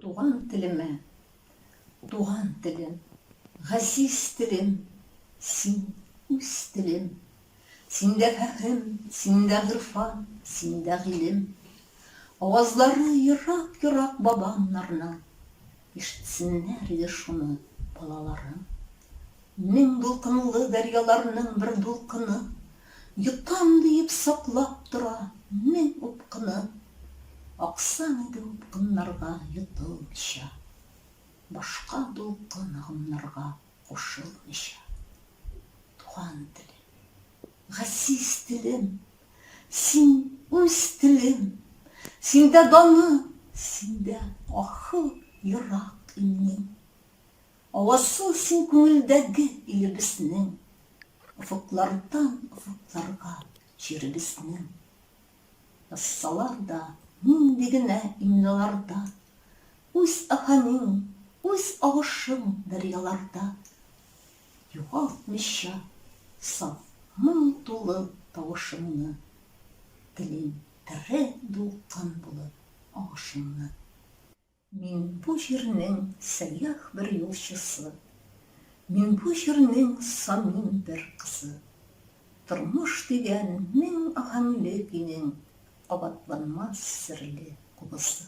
Туган телемә, туган телем, Газиз телем, син, үз телем. Синдә фәһем, синдә гырфан, синдә гыйлем. Авазлары ерак-ерак бабамнарның. Ишетсеннәр иде шуны балаларым. Мең дулкынлы дәрьяларның бер дулкыны, Йотам диеп саклап тора мең упкыны. Аксаң иде упкыннарга йотылмыйча, Башка дулкын агымнарга Кушылмыйча, туган телем. Газиз телем, син, үз телем. Синдә даны, синдә ахы ерак илнең. Авасы син күңелдәге илебезнең. Офыклардан офыкларга җиребезнең. Кыссалар да, нинди генә имлалар да, Үз Афанин, үз агышын дәрьялар да. Югалтмыйча саф, моң тулы тавышыңны, Телим тере дулкын булып агышыңны. Мин бу җирнең сәях бер юлчысы, Мин бу җирнең самим бер кызы. Тормыш дигән мең аһәңле көйнең Кабатланмас серле кубызы.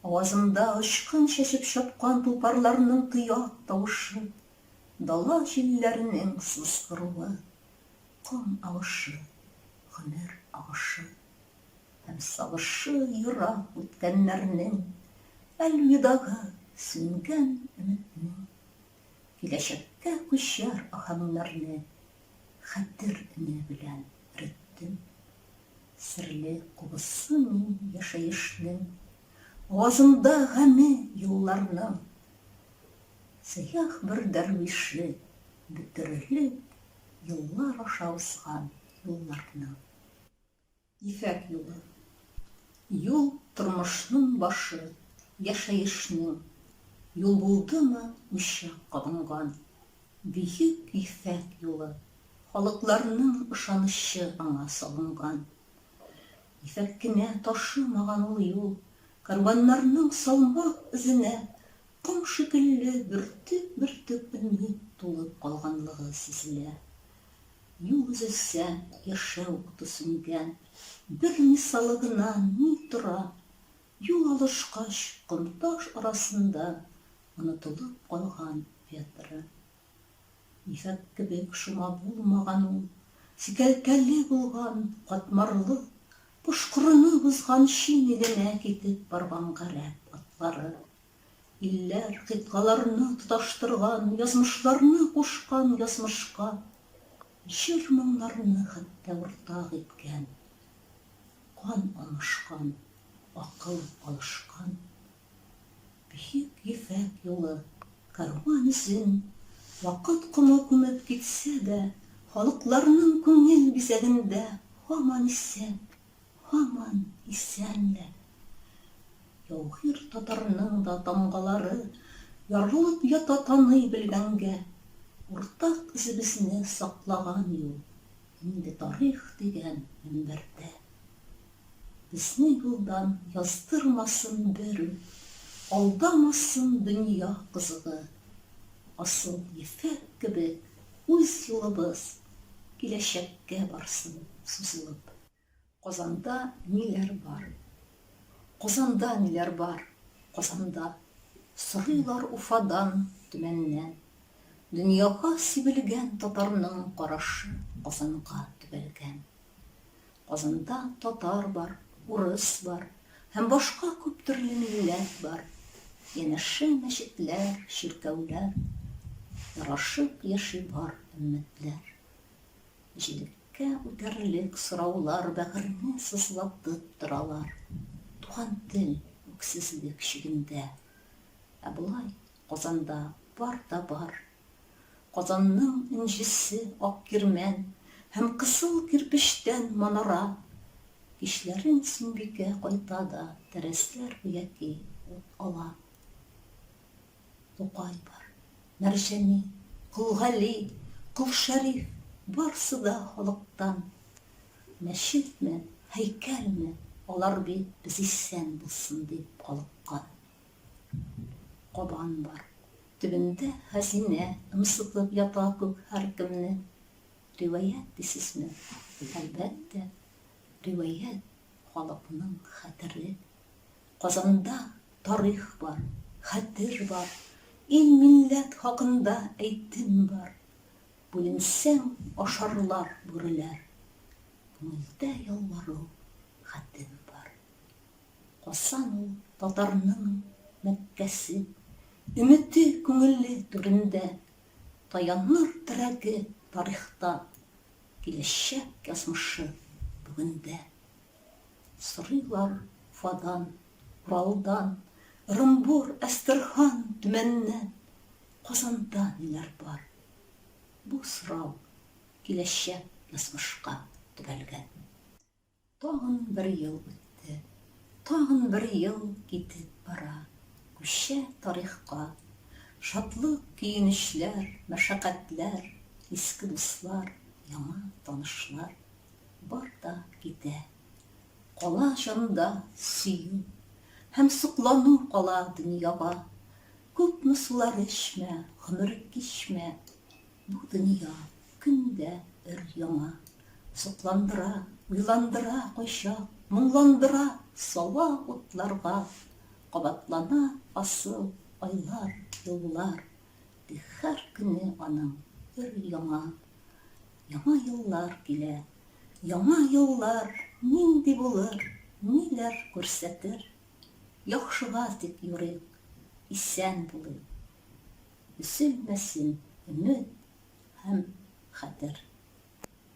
Авазымда очкын чәчеп чапкан Тулпарларның тояк тавышы, Дала җилләренең сызгыруы, Кан агышы, гомер агышы. Һәм сагышы ерак үткәннәрнең, Әлвидагы сүнгән өметнең, Киләчәккә күчәр аһәңнәрне Хәтер эне белән реттем. Серле кубысы мин яшәешнең, Авазында гаме елларның. Сыйах бер дәрвише бөтерелеп Еллар аша узган юлларның. Ефәк юлы. Юл, тормышның башы, яшәешнең. Юл булдымы, учак кабынган. Бөек Ефәк юлы, халыкларның ышанычы аңа салынган. Ефәк кенә ташымаган ул юл, кәрваннарның салмак эзенә ком шикелле бөртек-бөртек өмет тулып калганлыгы сизелә. Юл өзелсә, яшәү уты сүнгән. Бер мисалы гына ни тора? Юл алышкач, ком-таш арасында онытылып калган Петра. Ефәк кебек шома булмаган ул, сикәлтәле булган, катмарлы, пошкырынып узган чи миленә китеп барган гарәп атлары, Илләр, кыйтгаларны тоташтырган, Язмышларны кушкан язмышка, Җыр-моңнарны хәтта уртак иткән, Кан алмашкан, акыл алышкан. Бөек Ефәк юлы, кәрван эзен Вакыт комы күмеп китсә дә, Халыкларның күңел бизәгендә Һаман исә Һаман исәнлек! Яугир татарның да тамгалары ярылып ята Таный белгәнгә, уртак эзебезне саклаган юл Инде тарих дигән мөнбәрдә. Безне юлдан яздырмасын бер үк, Алдамасын дөнья кызыгы. Асыл ефәк кебек үз юлыбыз! Киләчәккә барсын сузылып. Казанда ниләр бар? Казанда ниләр бар? Казанда. Сорыйлар Уфадан, Төмәннән. Дөньяга сибелгән татарның карашы Казанга төбәлгән. Казанда татар бар, урыс бар һәм башка күп төрле милләт бар. Янәшә мәчетләр, чиркәүләр. Ярашып яши бар өммәтләр. Җилеккә үтәрлек сораулар бәгырьне сызлатып торалар. Туган тел, үксезлек чигендә. Ә болай Казанда бар да бар Казанның энҗесе, ак кирмән Һәм кысыл кирпечтән манара. Кичләрен Сөмбикә кайта да Тәрәзләр гүяки ут ала. Тукай бар, Мәрҗани, Кол Гали, Кол Шәриф, Барсы да халыктан. Мәчетме, һәйкәлме, алар бит Без исән булсын дип калыккан. Кабан бар, Төбендә хәзинә ымсытып ята күк һәркемне. Риваять дисезме? Әлбәттә, риваять халыкның хәтере. Казанда тарих бар, хәтер бар, ил-милләт хакында әйтем бар. Бүленсәң, ашарлар бүреләр. Күңелдә ялвару хәтем бар. Касан ул татарның Мәккәсе, Өмете күңелле түрендә Таяныр терәге тарихта, Киләчәк язмышы бүгендә. Сорыйлар Уфадан, Уралдан, Ырымбур, Әстерхан, Төмәннән, Казанда ниләр бар? Бу сорау киләчәк язмышка төбәлгән. Тагын бер ел үтте. Тагын бер ел китеп бара. Күчә тарихка. Шатлык, көенечләр, мәшәкатьләр, иске дуслар, яңа танышлар. Бар да китә. Кала җанда сөю һәм соклану кала дөньяга. Күпме сулар эчмә, гомер кичмә, Бу дөнья көндә өр-яңа. Сокландыра, уйландыра кайчак, Моңландыра сала утларга. Кабатлана асыл айлар, еллар, Тик һәр көне аның өр-яңа. Яңа еллар килә, яңа еллар Нинди булыр, ниләр күрсәтер? Яхшыга тик юрыйк, исән булыйк, Өзелмәсен өмет һәм хәтер.